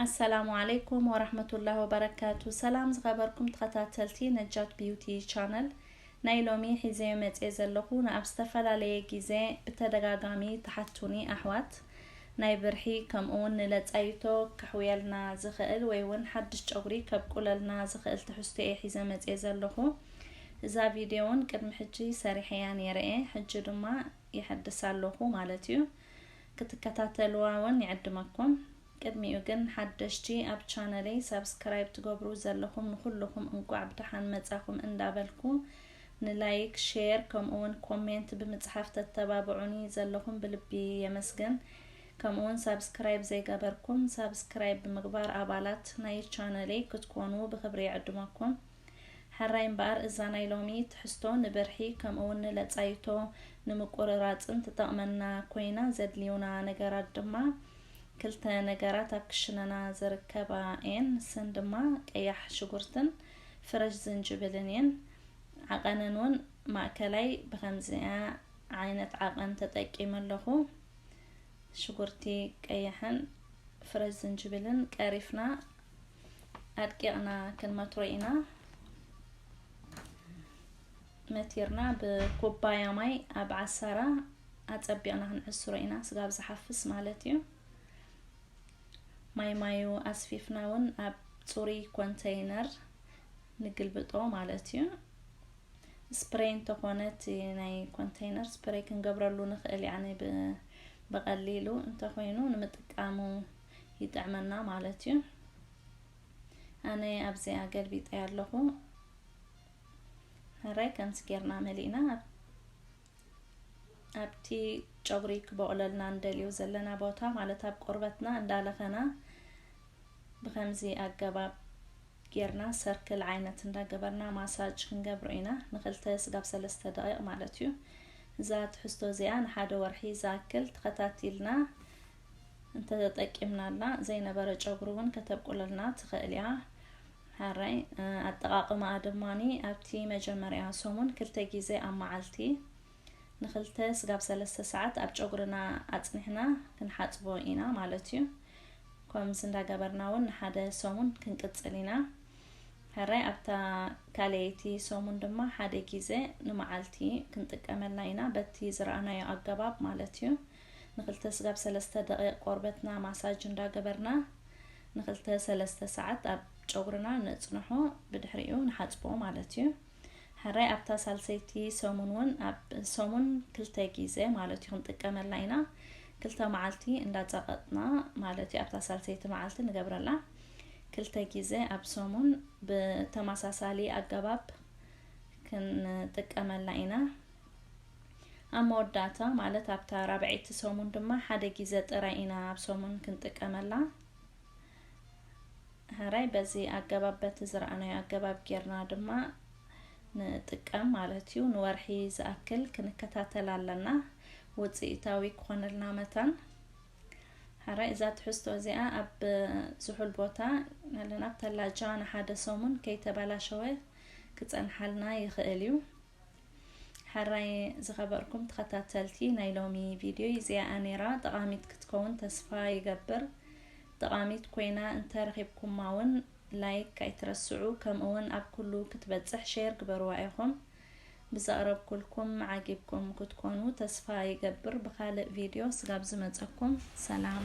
ኣሰላሙ ዓለይኩም ወራህመቱላህ ወበረካቱ ሰላም ዝኸበርኩም ተኸታተልቲ ነጃት ቢዩቲ ቻነል ናይ ሎሚ ሒዘዮ መጽየ ዘለኹ ንኣብ ዝተፈላለየ ግዜ ብተደጋጋሚ ተሓቱኒ ኣሕዋት ናይ ብርሒ ከምኡውን ንለጻይቶ ክሕውየልና ዝኽእል ወይ እውን ሓድሽ ጨጉሪ ከብቁለልና ዝኽእል ትሕዝቶ እየ ሒዘ መጽየ ዘለኹ እዛ ቪድዮ እውን ቅድሚ ሕጂ ሰሪሐያ ነይረ እየ ሕጂ ድማ የሐድሳ ኣለኹ ማለት እዩ ክትከታተልዋ ውን ይዕድመኩም ቅድሚኡ ግን ሓደሽቲ ኣብ ቻነለይ ሳብስክራይብ ትገብሩ ዘለኹም ንኹልኹም እንቋዕ ብደሓን መጻኹም እንዳበልኩ ንላይክ ሼር ከምኡውን ኮሜንት ብምጽሓፍ ተተባብዑኒ ዘለኹም ብልቢ የመስግን ከምኡውን ሳብስክራይብ ዘይገበርኩም ሳብስክራይብ ብምግባር ኣባላት ናይ ቻነለይ ክትኮኑ ብክብሪ ይዕድመኩም ሐራይ እምበኣር እዛ ናይ ሎሚ ትሕዝቶ ንብርሒ ከምኡውን ንለጻይቶ ንምቁርራጽን ትጠቕመና ኮይና ዘድልዩና ነገራት ድማ ክልተ ነገራት ኣብ ክሽነና ዝርከባ እየን ንሰን ድማ ቀያሕ ሽጉርትን ፍረሽ ዝንጅብልን እየን ዓቐነን እውን ማእከላይ ብከምዚኣ ዓይነት ዓቐን ተጠቂመ ኣለኹ ሽጉርቲ ቀይሕን ፍረሽ ዝንጅብልን ቀሪፍና ኣድቂቕና ክንመትሮ ኢና። መቲርና ብኩባያ ማይ ኣብ ዓሳራ ኣጸቢቕና ክንዕስሮ ኢና፣ ስጋብ ዝሓፍስ ማለት እዩ። ማይ ማዩ ኣስፊፍና እውን ኣብ ፅሩይ ኮንተይነር ንግልብጦ ማለት እዩ ስፕሬይ እንተኾነ እቲ ናይ ኮንተይነር ስፕሬይ ክንገብረሉ ንኽእል ያኒ ብቐሊሉ እንተኾይኑ ንምጥቃሙ ይጥዕመና ማለት እዩ ኣነ ኣብዚ ኣገልቢጠ ኣለኹ ሕራይ ከምዚ ጌርና መሊእና ኣብቲ ጨጉሪ ክበቕለልና እንደልዮ ዘለና ቦታ ማለት ኣብ ቆርበትና እንዳለኸና ብከምዚ ኣገባብ ጌርና ሰርክል ዓይነት እንዳገበርና ማሳጅ ክንገብሮ ኢና ንክልተ ስጋብ ሰለስተ ደቂቕ ማለት እዩ እዛ ትሕዝቶ እዚኣ ንሓደ ወርሒ ዝኣክል ተኸታቲልና እንተተጠቂምናላ ዘይነበረ ጨጉሪ እውን ከተብቁለልና ትኽእል እያ። ሕራይ ኣጠቓቕማኣ ድማኒ ኣብቲ መጀመርያ ሰሙን ክልተ ግዜ ኣብ መዓልቲ ንክልተ ስጋብ ሰለስተ ሰዓት ኣብ ጨጉርና ኣፅኒሕና ክንሓፅቦ ኢና ማለት እዩ ከምዚ እንዳገበርና እውን ንሓደ ሰሙን ክንቅፅል ኢና ሕራይ ኣብታ ካልኣይቲ ሰሙን ድማ ሓደ ግዜ ንመዓልቲ ክንጥቀመላ ኢና በቲ ዝረኣናዮ ኣገባብ ማለት እዩ ንክልተ ስጋብ ሰለስተ ደቒቕ ቆርበትና ማሳጅ እንዳገበርና ንክልተ ሰለስተ ሰዓት ኣብ ጨጉርና ነጽንሖ ብድሕሪኡ ንሓጽቦ ማለት እዩ ሕራይ ኣብታ ሳልሰይቲ ሰሙን እውን ኣብ ሰሙን ክልተ ግዜ ማለት እዩ ክንጥቀመላ ኢና ክልተ መዓልቲ እንዳጸቐጥና ማለት እዩ ኣብታ ሳልሰይቲ መዓልቲ ንገብረላ ክልተ ግዜ ኣብ ሰሙን ብተመሳሳሊ ኣገባብ ክንጥቀመላ ኢና ኣብ መወዳእታ ማለት ኣብታ ራብዐይቲ ሰሙን ድማ ሓደ ግዜ ጥራይ ኢና ኣብ ሰሙን ክንጥቀመላ። ሕራይ በዚ ኣገባብ በቲ ዝረኣናዮ ኣገባብ ጌርና ድማ ንጥቀም ማለት እዩ። ንወርሒ ዝኣክል ክንከታተል ኣለና ውፅኢታዊ ክኾነልና መታን። ሕራይ እዛ ትሕዝቶ እዚኣ ኣብ ዝሑል ቦታ ኣለና ኣብ ተላጃ ንሓደ ሰሙን ከይተበላሸወ ክፀንሓልና ይኽእል እዩ። ሐራይ ዝኸበርኩም ተኸታተልቲ ናይ ሎሚ ቪድዮ ይዚኣ ነይራ ጠቓሚት ክትከውን ተስፋ ይገብር ጠቓሚት ኮይና እንተረኺብኩማ ውን ላይክ ኣይትረስዑ ከምኡውን ኣብ ኩሉ ክትበጽሕ ሼር ግበርዋ ኢኹም ብዘቕረብኩልኩም ዓጊብኩም ክትኮኑ ተስፋ ይገብር ብኻልእ ቪድዮ ስጋብ ዝመጸኩም ሰላም